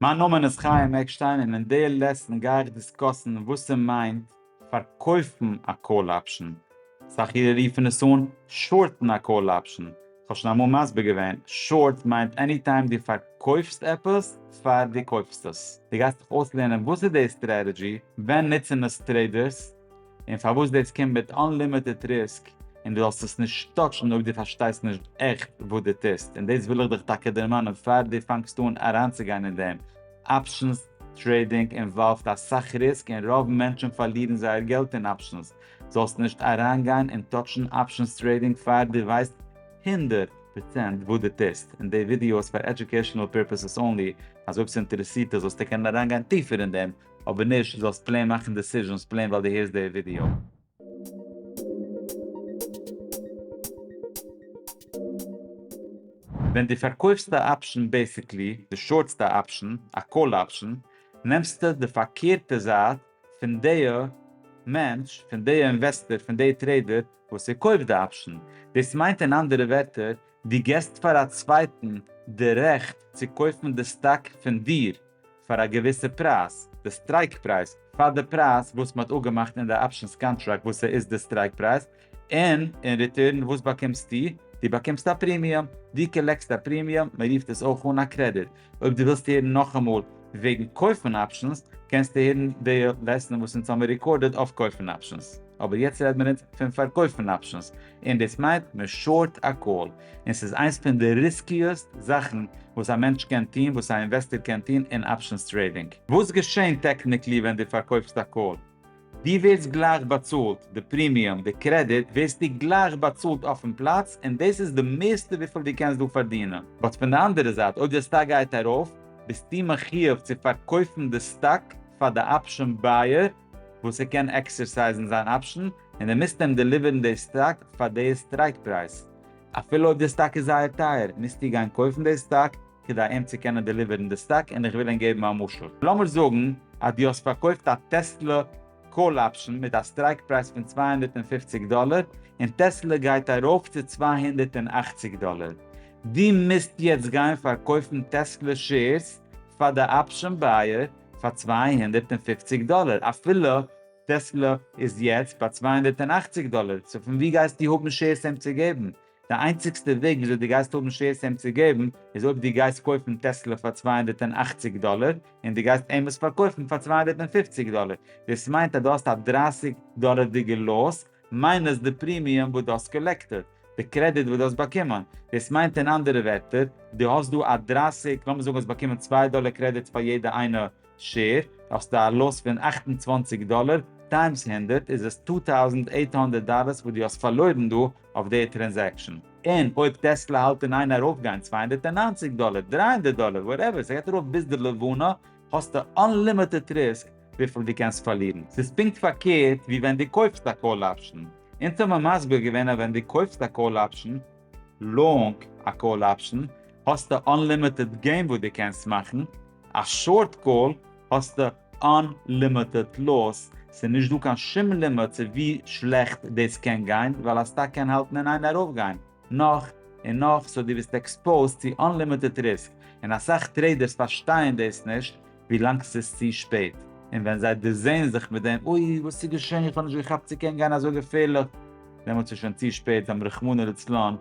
מיין נאמען איז חיים עקשטיין און אין די לעסן גיי איך דיסקאסן וואס ס'מיינט פארקויפן א קאל אפשן, אסאך אירע רופן עס אן שארטן א קאל אפשן, כ'האב שוין אמאל מסביר געווען, שארט מיינט עני טיים דו פארקויפסט עפעס פאר דו קויפסט עס, דו גייסט זיך אויסלערנען וואס איז די סטרעטעדזשי, ווען נוצן עס טרעידערס, און פארוואס דאס קומט מיט אנלימיטעד ריסק און דו זאלסט עס נישט טאטשן אויב דו פארשטייסט נישט עכט וואס דו טוסט און דאס וויל איך דיך טאקע דערמאנען פאר דו פאנגסט אן אריינצוגיין אין דעם, אפשענס טרעידינג אינוואלווד אסאך ריסק און רוב מענטשן פארלירן זייער געלט אין אפשענס, זאלסט נישט אריינגיין און טאטשן אפשענס טרעידינג פאר דו ווייסט הונדערט פראצענט וואס דו טוסט, און די ווידעא איז פאר עדיוקעישאנעל פירפעסעס אנלי, אז אויב ס'אינטערעסירט דיך זאלסטו קענען אריינגיין טיפער אין דעם, אבער נישט דו זאלסט פלעין מאכן דעסיזשענס פלעין ווייל דו הערסט די ווידיאו. ווען דו פארקויפסט א אפשן בעסיקלי דו שארטסט א אפשן, א קאל אפשן, נעמסטו די פארקערטע זייט פון די מענטש, פון די אינוועסטער, פון די טרעידער וואס ער קויפט די אפשן. דאס מיינט אין אנדערע ווערטער דו געסט פאר א צווייטן די רעכט צו קויפן די סטאק פון דיר. פאר א געוויסע פרייז, די סטרייק פרייז, פאר די פרייז וואס מען האט אפגעמאכט אין די אפשענס קאנטראקט וואס ס'איז די סטרייק פרייז, און אין ריטורן וואס באקומסטו? דו באקומסט א פרימיום, דו קאלעקסט א פרימיום, מען רופט עס אויך אן א קרעדיט. אויב דו ווילסט הערן נאכאמאל וועגן קויפן אפשענס, קענסטו הערן די לעסן וואס אונז האבן רעקארדעד אויף קויפן אפשענס. אבער יעצט רעד מיר אונז פון פארקויפן אפשענס, און דאס מיינט מען שארט א קאל, און ס'איז איינס פון די ריסקיעסט זאכן וואס א מענטש קען טון, וואס א אינוועסטער קען טון אין אפשענס טרעידינג. וואס געשענט טעקניקלי ווען דו פארקויפסט א קאל? דו ווערסט גלייך באצאלט, די פרימיום, די קרעדיט, ווערסטו גלייך באצאלט אויפן פלאץ, און דאס איז די מערסטע וויפיל דו קענסט דא פארדינען. באט פון די אנדערע זייט, אויב די סטאק גייט ארויף, ביסטו מחויב צו פארקויפן די סטאק פאר די אפשען בייער, וואס ער קען עקסערסייזן זיין אפשען, און ער מוזט אים דעליווערן די סטאק פאר די סטרייק פרייז, אפילו אויב די סטאק איז זייער טייער מוזט איר גיין קויפן די סטאק כדי אים צו קענען דעליווערן די סטאק, און איך וויל אים געבן א משל, לאמיר זאגן אז דו האסט פארקויפט א טעסלע קאל אפשן מיט א סטרייק פרייז פון צוויי הונדערט און פֿופֿציק דאלער, און טעסלע גייט ארויף צו צוויי הונדערט און אַכציק דאלער, דו מוזט יעצט גיין פארקויפן טעסלע שעירס פאר די אפשן בייער פאר צוויי הונדערט און פֿופֿציק דאלער אפילו. טעסלע איז יעצט ביי צוויי הונדערט און אַכציק דאלער, סאו פון ווי גייסטו האבן שעירס אים צו געבן? די איינציגסטע וועג וויאזוי דו גייסט האבן שעירס אים צו געבן איז אויב דו גייסט קויפן טעסלע פאר צוויי הונדערט און אַכציק דאלער און דו גייסט אים עס פארקויפן פאר צוויי הונדערט און פֿופֿציק דאלער, דאס מיינט אז דו האסט א דרײַסיק דאלערדיגע לאס מיינוס די פרימיום וואס דו האסט קאלעקטעד, די קרעדיט וואס דו האסט באקומען. דאס מיינט אין אנדערע ווערטער, דו האסט דא א דרײַסיק, לאמיר זאגן האסט באקומען צוויי דאלער קרעדיט פאר יעדע איינע שעיר, האסטו א לאס פון אַכט און צוואַנציק דאלער, טיימס הונדערט איז עס טו טאוזענד אייט הונדערט דאלערס וואס דו האסט פארלוירן דא אויף די טרענזעקשאן. און אויב טעסלע האלט אין איין ארויפגיין צוויי הונדערט און נײַנציק דאלער, דרײַ הונדערט דאלער, וואטעווער, ס'גייט ארויף ביז די לבנה, האסטו אנלימיטעד ריסק וויפיל דו קענסט פארלירן, ס'איז פונקט פארקערט ווי ווען דו קויפסט א קאל אפשן, אונז האב מיר מסביר געווען אז ווען דו קויפסט א קאל אפשן, לאנג א קאל אפשן, האסטו אנלימיטעד געים וואס דו קענסט מאכן, א שארט קאל האסטו אנלימיטעד לאס, ס'איז נישט דא קיין שום לימיט צו ווי שלעכט דאס קען גיין ווייל א סטאק קען האלטן אין איין ארויפגיין. נאך און נאך סאו דו ביסט עקספאוזט צו אנלימיטעד ריסק און אסאך טרעידערס פארשטייען דאס נישט ווילאנג ס'איז צו שפעט און ווען זיי דערזעהן זיך מיט דעם אוי וואס איז געשעהן איך האב נישט געכאפט ס'קען גיין אזוי געפערליך דעמאלטס איז שוין צו שפעט זיי האבן רחמנא לצלן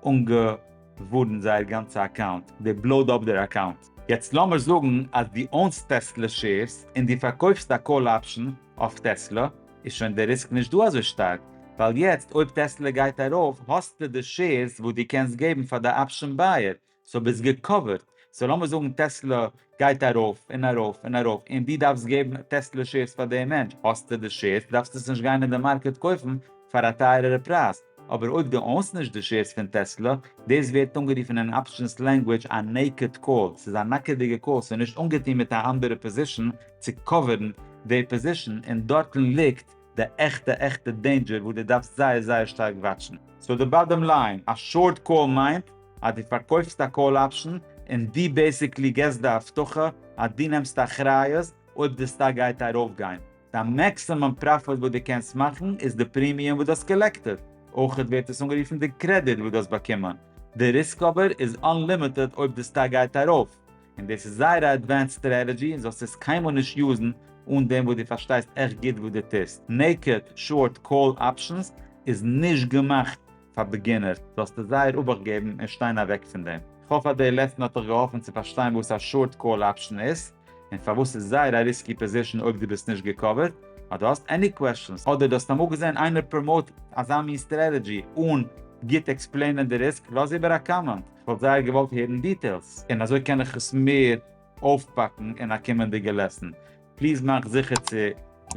אנגעווארענט זייער גאנצע אקאונט דער בלאוד אפ דער אקאונט. יעצט לאמיר זאגן אז דו אונסט טעסלע שעירס און דו פארקויפסט א קאל אפשן אויף טעסלע, איז שוין די ריסק נישט דא אזוי שטארק, ווייל יעצט אויב טעסלע גייט ארויף האסטו די שעירס וואס דו קענסט געבן פאר די אפשען בייער, סאו ביסט געקאווערט, סאו לאמיר זאגן טעסלע גייט ארויף און ארויף און ארויף און דו דארפסט געבן טעסלע שעירס פאר די מענטש, האסטו די שעירס, דארפסט עס נישט גיין אין די מארקעט קויפן פאר א טייערערע פרייז. אבער אויב דו אונסט נישט די שעירס פון טעסלא, דאס ווערט אנגערופן אין אפשענס לענגוויטש א נעיקעד קאל, ס'איז א נאקעדיגע קאל, ס'איז נישט אנגעטון מיט א אנדערע פאזישאן צו קאווערן די פאזישאן, און דארטן ליגט די עכטע עכטע דעינדזשער וואס דו דארפסט זייער זייער שטארק וואטשן. סאו די באדאם ליין, א שארט קאל מיינט אז דו פארקויפסט א קאל אפשען און דו בעיסיקלי געסט די הבטחה אז דו נעמסט אחריות אויב די סטאק גייט ארויפגיין, די מעקסימום פראפיט וואס דו קענסט מאכן איז די פרימיום וואס דו האסט קאלעקטעד, אויך ווערט עס אנגערופן די קרעדיט וואס דו האסט באקומען. די ריסק אבער איז אנלימיטעד אויב די סטאק גייט ארויף, און דאס איז זייער א עדווענסד סטרעטעדזשי און זאלסט עס קיינמאל נישט יוזן אן דעם וואס דו פארשטייסט עכט גוט וואס דו טוסט. נעקעד שארט קאל אפשענס איז נישט געמאכט פאר בעגינערס, זאלסטו זייער אבאכט געבן און שטיין אוועק פון דעם. איך האף אז די לעסן האט דיך געהאלפן צו פארשטיין וואס א שארט קאל אפשן איז, און פארוואס ס'איז זייער א ריסקי פאזישן אויב דו ביסט נישט געקאווערט. אז דו האסט עני קוועשאנס, אדער דו האסט אמאל געזען איינער פראמאוט אזא מין סטרעטעדזשי אן גוט עקספלעינען די ריסק, לאז איבער א קאמענט, איך וואלט זייער געוואלט הערן דיטעילס, און אזוי קען איך עס מער אויפפאקן אין א קומענדיגע לעסן. פליז מאך זיכער צו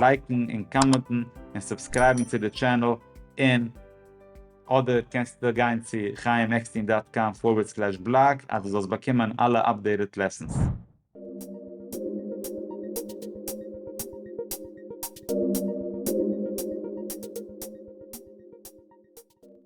לייקן און קאמענטן און סובסקרייבן צו די טשענעל און אדער קענסטו גיין צו חיים עקסטין דאט קאם פארווערד סלעש בלאג אז דו זאלסט באקומען אלע אפדעיטעד לעסענס.